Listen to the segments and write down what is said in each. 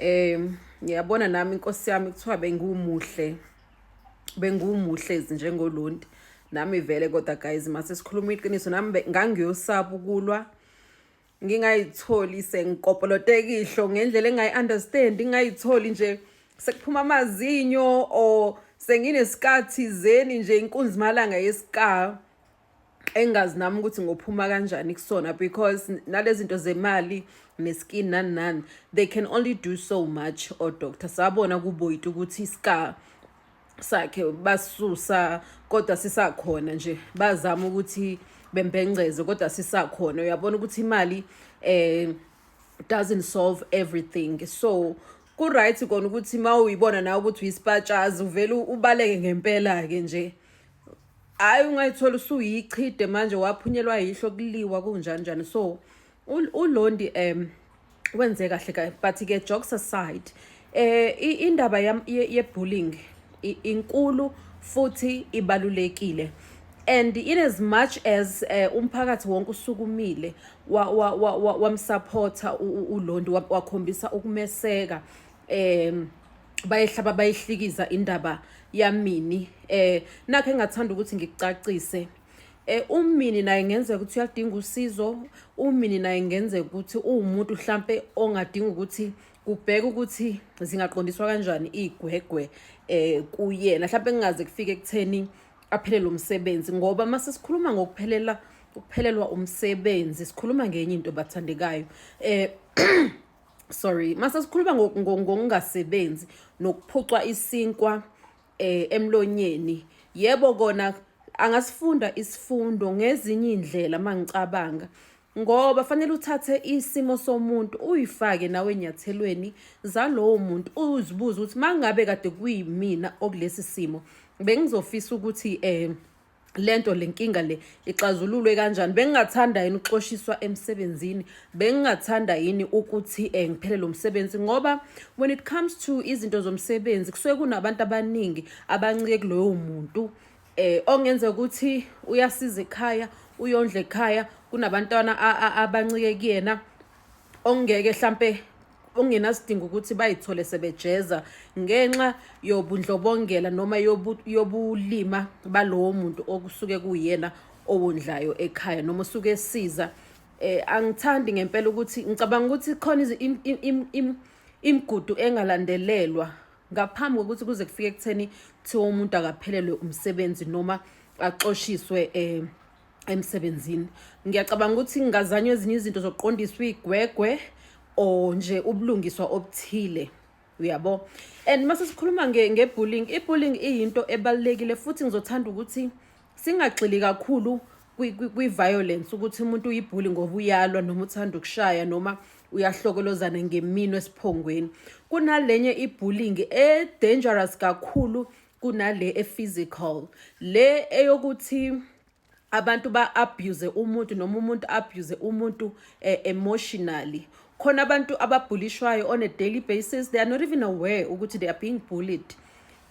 Eh ngiyabona nami inkosi yami kuthiwa bengiwumuhle bengiwumuhle njengolonti nami vele kodwa guys mase sikhuluma iqiniso nami ngangiyosaba ukulwa ngingayitholi sengikopoloteka ihlo ngendlela engayi-understand ngingayitholi nje sekuphuma amazinyo or senginesikhathi zeni nje inkunzimalanga yesikayo engazi nami ukuthi ngophuma kanjani kusona because nalezi zinto zemali neskin nani nani they can only do so much odoctor sabona kuboyita ukuthi iska sakhe basusa kodwa sisakhona nje bazama ukuthi bembengceze kodwa sisakhona uyabona ukuthi imali eh doesn't solve everything so ku-right kona ukuthi uma uyibona nawe ukuthi uyisipatshazi uvele ubaleke ngempela-ke nje hayi ungayithola usuyichide manje waphunyelwa yihlo kuliwa kunjani njani so ulondi um wenze kahle kahle but-ke jokes aside um indaba ye-bullying inkulu futhi ibalulekile and in as much as uh, umphakathi wonke usukumile wamsupporta wa, wa, wa, ulondi wakhombisa ukumeseka um bayehlaba bayihlikiza indaba yamini eh nakhe ngathanda ukuthi ngikucacise eh umini naye ngenzeka ukuthi uyadinga usizo umini naye ngenzeka ukuthi uwumuntu mhlambe ongadinga ukuthi kubheka ukuthi zingaqondiswa kanjani igwegwe eh kuyena mhlambe kungaze kufike ekutheni aphele lo msebenzi ngoba uma sesikhuluma ngokuphelela ukuphelelwa umsebenzi sikhuluma ngenye into bathandekayo eh sorry mase sikhuluma ngokungasebenzi nokuphucwa isinkwa eh emlonyeni yebo kona angasifunda isifundo ngezinye indlela mangicabanga ngoba fanele uthathe isimo somuntu uyifake nawe enyathelweni zalowo muntu uzibuze ukuthi mangabe kade kuyimina okulesi simo bengizofisa ukuthi eh lento lenkinga le ixazululwe kanjani bengingathanda yini ukuxoshiswa emsebenzini bengingathanda yini ukuthi eh, ngiphelele umsebenzi ngoba when it comes to izinto zomsebenzi kusuke kunabantu abaningi abancike kuloyo muntu eh ongenza ukuthi uyasiza ekhaya uyondla ekhaya kunabantwana abancike kuyena ongeke mhlampe ongenasidingo ukuthi bayithole sebejeza ngenxa yobundlobongela noma yobulima balowo muntu okusuke kuyena owondlayo ekhaya noma usuke esiza eh angithandi ngempela ukuthi ngicabanga ukuthi khona imigudu engalandelelwa ngaphambi kokuthi kuze kufike ekutheni kuthiwa umuntu akaphelelwe umsebenzi noma axoshiswe eh emsebenzini ngiyacabanga ukuthi ngingazanywa ezinye izinto zokuqondiswa igwegwe or nje ubulungiswa obuthile uyabo and mase sikhuluma nge-bullying i-bullying iyinto ebalulekile futhi ngizothanda ukuthi singagxili kakhulu kwi-violence ukuthi umuntu uyibhuli ngoba uyalwa noma uthanda ukushaya noma uyahlokolozana ngemino esiphongweni kunalenye ibullying e-dangerous kakhulu kunale e-physical le eyokuthi abantu ba-abuse umuntu noma umuntu abuse umuntu eh, emotionally khona abantu ababhulishwayo on a daily basis they are not even aware ukuthi they are being bullied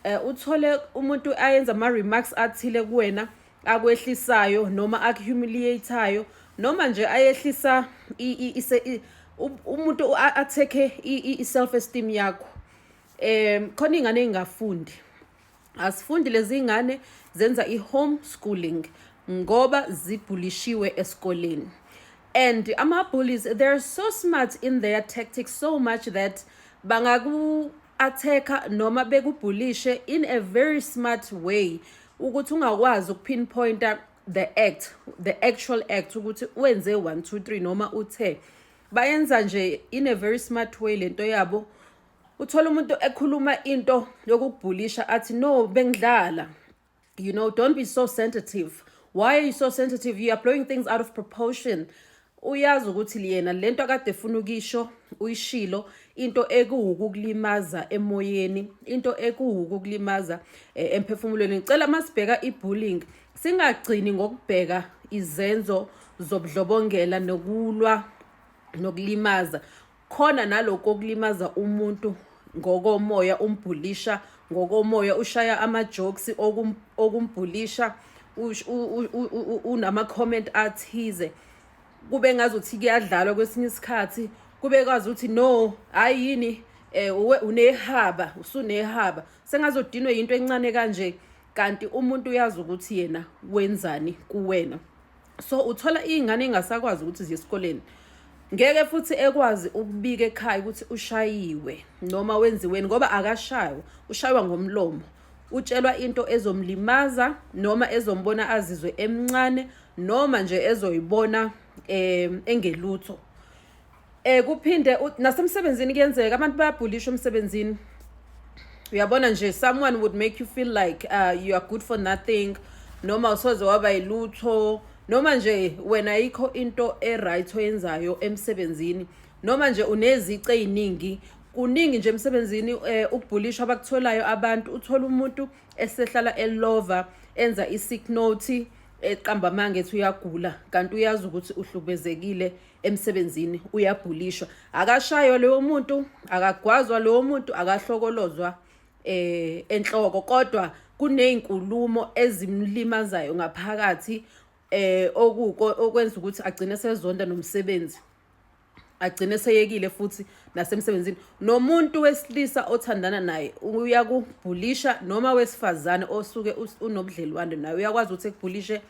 eh, uthole umuntu ayenza ama-remarks athile kuwena akwehlisayo noma akuhumiliatayo noma nje ayehlisa umuntu athekhe i-self esteem yakho um khona iy'ngane ey'ngafundi asifundi lezi ngane zenza i-home schooling ngoba zibhulishiwe esikoleni and ama-bullies they're so smart in their tactics so much that bangaku-attack-a noma bekubhulishe in a very smart way ukuthi ungakwazi ukupinpointa the act the actual act ukuthi wenze 1 2 3 noma uthe bayenza nje in a very smart way lento yabo uthole umuntu ekhuluma into yokukubhulisha athi no bengidlala you know don't be so sensitive why are you so sensitive you are blowing things out of proportion uyazi ukuthi liyena lento akade funa ukisho uyishilo into ekuwukukulimaza emoyeni into ekuwukukulimaza eh, emphefumulweni ngicela masibheka ibullying singagcini ngokubheka izenzo zobudlobongela nokulwa nokulimaza Khona nalokho okulimaza umuntu ngokomoya umbhulisha ngokomoya ushaya amajokes okum, okumbhulisha ush- u- u- u- u- u- unama-comment athize kube ngazuthi kuyadlalwa kwesinye isikhathi kube kwazi ukuthi no hayi yini eh uwe unehaba usunehaba sengazodinwe yinto encane kanje kanti umuntu uyazi ukuthi yena wenzani kuwena so uthola iy'ngane ey'ngasakwazi ukuthi ziye esikoleni ngeke futhi ekwazi ukubika ekhaya ukuthi ushayiwe noma wenziweni ngoba akashaywa ushaywa ngomlomo utshelwa into ezomlimaza noma ezombona azizwe emncane noma nje ezoyibona um engelutho Eh kuphinde nasemsebenzini kuyenzeka abantu bayabhulishwa emsebenzini. Uyabona nje someone would make you feel like uh, you are good for nothing noma usoze waba yilutho noma nje wena yikho into eright oyenzayo emsebenzini noma nje unezici eziningi kuningi nje emsebenzini eh, ukubhulishwa abakutholayo abantu uthola umuntu esehlala elova enza i-sick note eqamba amanga ethi uyagula kanti uyazi ukuthi uhlubezekile emsebenzini uyabhulishwa akashaywa lowo muntu akagwazwa lowo muntu akahlokolozwa eh enhloko kodwa kunezinkulumo ezimlimazayo ngaphakathi eh okuko okwenza ukuthi agcine sezonda nomsebenzi agcine seyekile futhi nasemsebenzini nomuntu wesilisa othandana naye uyakubhulisha noma wesifazane osuke unobudlelwane naye uyakwazi ukuthi ekubhulishe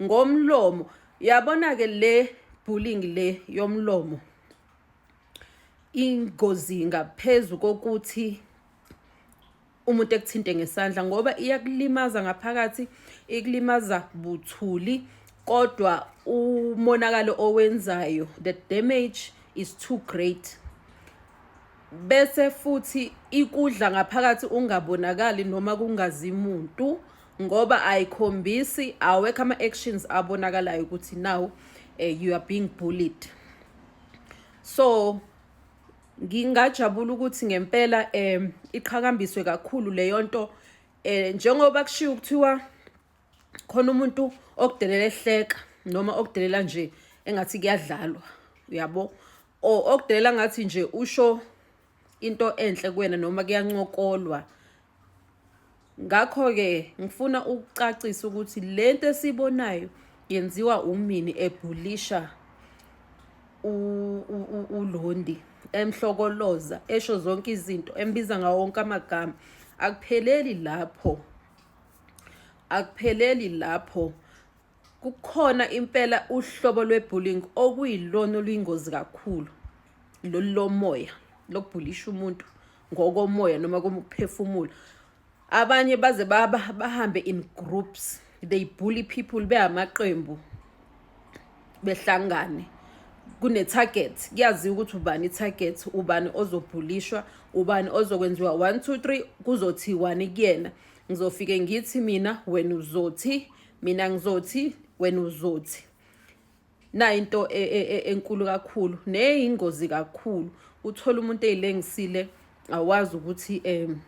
ngomlomo Yabona ke le bullying le yomlomo ingozi ngaphezulu kokuthi umuntu ekuthinte ngesandla ngoba iyakulimaza ngaphakathi ikulimaza buthuli kodwa umonakalo owenzayo the damage is too great bese futhi ikudla ngaphakathi ungabonakali noma kungazi muntu ngoba ayikhombisi awekho ama-actions abonakalayo ukuthi now um you are being bullied so ngingajabula ukuthi ngempela um iqhakambiswe kakhulu leyo nto um njengoba kushiwo kuthiwa khona umuntu okudelela ehleka noma okudelela nje engathi kuyadlalwa uyabo or okudelela ngathi nje usho into enhle kuwena noma kuyancokolwa ngakho-ke ngifuna ukucacisa ukuthi le nto esibonayo yenziwa umini ebhulisha ulondi emhlokoloza esho zonke izinto embiza ngawo wonke amagama akupheleli lapho akupheleli lapho kukhona impela uhlobo lwebullying okuyilona oluyingozi kakhulu lolu lomoya lokubhulisha umuntu ngokomoya noma komuphefumulo abanye baze baba bahambe in groups they bully people behamaqembu behlangane kune-target kuyaziwa ukuthi ubani i-target ubani ozobhulishwa ubani ozokwenziwa one two three kuzothi wani kuyena ngizofike ngithi mina wena uzothi mina ngizothi wena uzothi nayo into e, e, e, enkulu kakhulu neyingozi kakhulu uthola umuntu eyilengisile awazi ukuthi um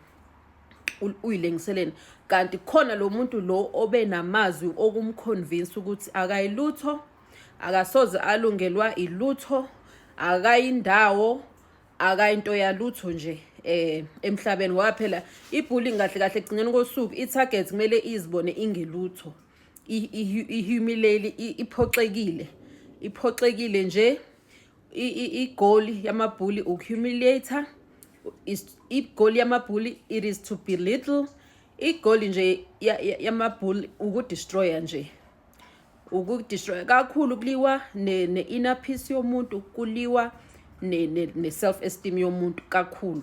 uyilengiseleni kanti khona lo muntu lo obe namazwi okumconvince ukuthi akayilutho akasoze alungelwa ilutho akayindawo akayinto yalutho nje eh emhlabeni ngoba phela ibullying kahle kahle ekugcineni kosuku i-target kumele izibone ingelutho ihumileli iphoxekile iphoxekile nje igoli yamabhuli ukuhumiliate igoli yamabhuli it is to be little igoli nje yamabhuli ukudestroya nje ukudestroya kakhulu kuliwa ne-inner peace yomuntu kuliwa ne-self esteem yomuntu kakhulu